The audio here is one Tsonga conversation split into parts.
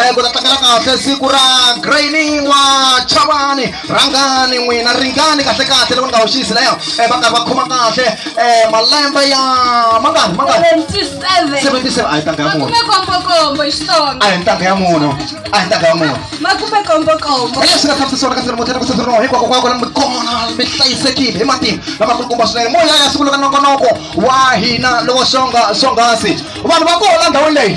Eh, ku ta tlangela kahle siku ra graini wa chavani rhangani n'wina ringani kahle kahle loko ni nga hoxisi leyo eh, va karhi va khoma kahle eh, malembe ya mangani mangani 77 77 a hi ntanga ya munhu makume kombokombo hi xitsonga a hi ntanga ya munhu a hi ntanga ya munhu makume kombokombo leswi nga tshamisisona ka ntirho muthetha ku sasirinoho hinkwako kwako lami kona mi hlayisekile hi matimba lamakulukumba swinene moya ya siku leka nongonoko wa hina lowo swonga swonghasi vanhu va koho la ndhawini leyi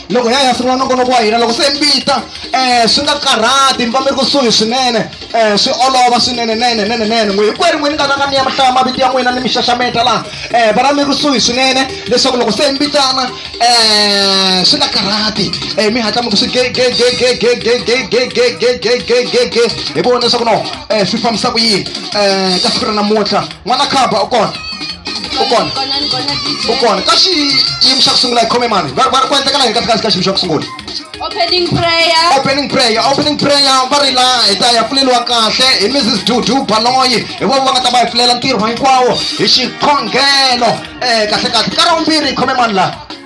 loko hi ya hi ya sungula nongonoko wa hina loko se mbita um swi nga karhati mi va mi ri kusuhi swinene um swi olova swinene nene nene nene n'wi hikweri n'wini nga ranga ni ya mahlaya mavito ya n'wina ni mi xaxameta laha um vana mi ri kusuhi swinene leswaku loko se mbitana um swi nga karhati um mi hatla mi ku swi gegegegegegegegegegegegegege hi vona leswaku no um swi fambisa ku yini um ka siku ra namuntlha n'wana khamba u kona u kona u kona ka xiyimo xa ku sungula hi khome mani va va ri ku endlekela yini kahle kahle ka xiyimo xa ku sungula Opening prayer. opening prayer opening prayer va ri la hi ta ya pfuleliwa kahle hi mrs dudu baloyi hi vona va nga ta va hi pfulela ntirho hinkwawo hi xikhongelo um kahle kahle ka ra vumbirhi hi khome mani laha